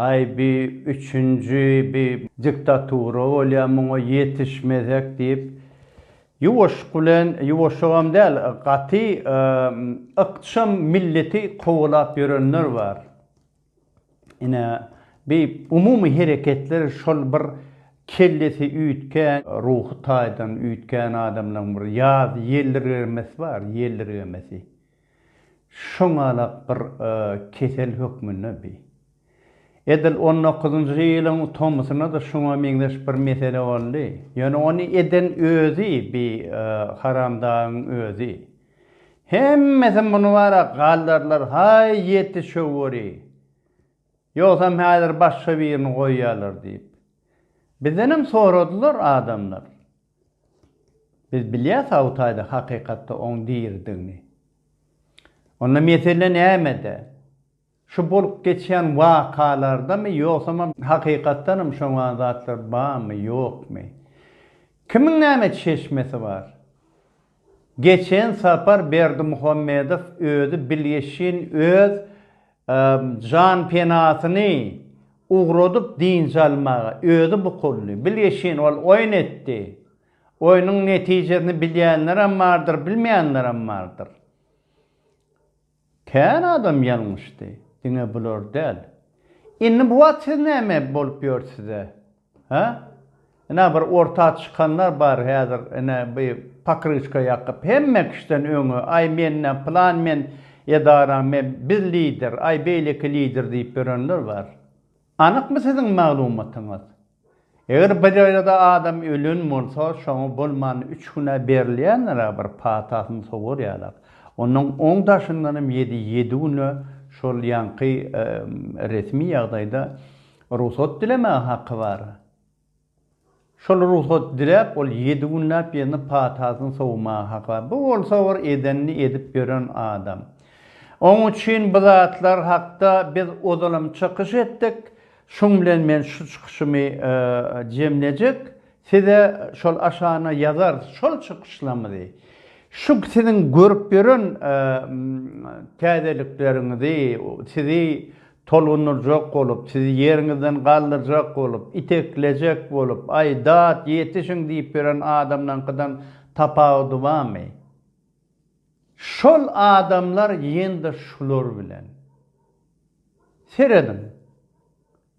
Aý bi üçünji bi diktatura bolýa muňa ýetişmesek diýip ýuwaşyk bilen ýuwaşygam däl gaty ykjam milleti kowalap ýörenler bar. Ine bi umumy hereketler şol bir kellesi üýtgän ruhy taýdan üýtgän adamlaryň bir ýaz ýeldirgemesi bar ýeldirgemesi. Şoňalak bir kesel hökmünde bi. Edil on dokuzynjy ýylyň tomusynada şuňa meňzeş bir mesele boldy. Ýöne ony eden özi bi haramdagyň özi. Hemmesi muny bara galdarlar haý ýeti şöwwuri. Ýogsam häzir başga birini goýýarlar diýip. Bizdenem soradylar adamlar. Biz bilýäs Hawtaýda hakykatda oň diridigini. Onda mesele nämede? Şu bolup geçýän wakalardamy ýogsamam hakykatdanam şoňa zatlar barmy, ýokmy? Kimiň näme çeşmesi bar? Geçen sapar Berdimuhamedow özi bilgeşin öz janpenasyny ugradyp dynç almaga özi bukuldy. Bilgeşin ol oýun etdi. Oýnuň netijesini bilýänlerem bardyr, bilmeýänlerem bardyr. Kän adam ýalňyşdy, diňe bular däl. Indi bu wagt siz näme bolup ýörsiz-ä? Hä? Ine, bir orta çykanlar bar häzir, ine, bi pokryçka ýakyp, hemme kişiden öňe, aý, menden, pylan men edaraň, men, biz lider, aý, beýleki lider diýip ýörenler bar. Anykmy siziň maglumatyňyz? Eger bir ýerde adam ölen bolsa şoňa bolman üç güne berilýändirä bir patasyny sowurýarlar. Onuň oň daşyndanam ýedi ýedi güne şol ýaňky resmi ýagdaýda rugsat dilemäge haky bar. Şol rugsat diläp, ol ýedi günläp ýene patasyny sowmaga haka. Bu bolsa bir edenini edip ýören adam. Oň üçin bu zatlar hakda biz ozalam çykyş etdik. Şuň bilen men şu çykyşymy jemlejek. Size şol aşana ýazarys şol çykyşlamyzy. Şu siziň görüp ýören täzelikleriňizi, sizi Tolgundyrjak bolup, sizi ýeriňizden galdyrjak bolup, iteklejek bolup, Aý, dat, ýetişiň diýip ýören adamlaňkydan tapawudy barmy? Şol adamlar ýene-de şular bilen. Serediň,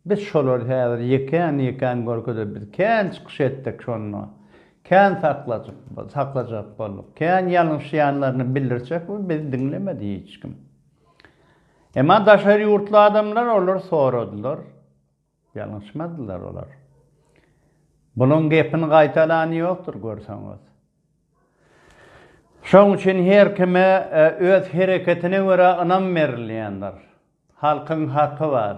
biz şolary häzir ýekän-ýekän görkezip, biz kän çykyş etdik şonda, kän saklajak bolduk, kän ýalňyşýanlaryny bildirjek, biz diňlemedi hiç kim. Emma daşary ýurtly adamlar olar soradylar. Ýalňyşmadylar olar. Bunuň gepini gaýtalany ýokdur görseňiz. Şoň üçin her kime öz hereketine görä ynam berilýändir. Halkyň haky bar.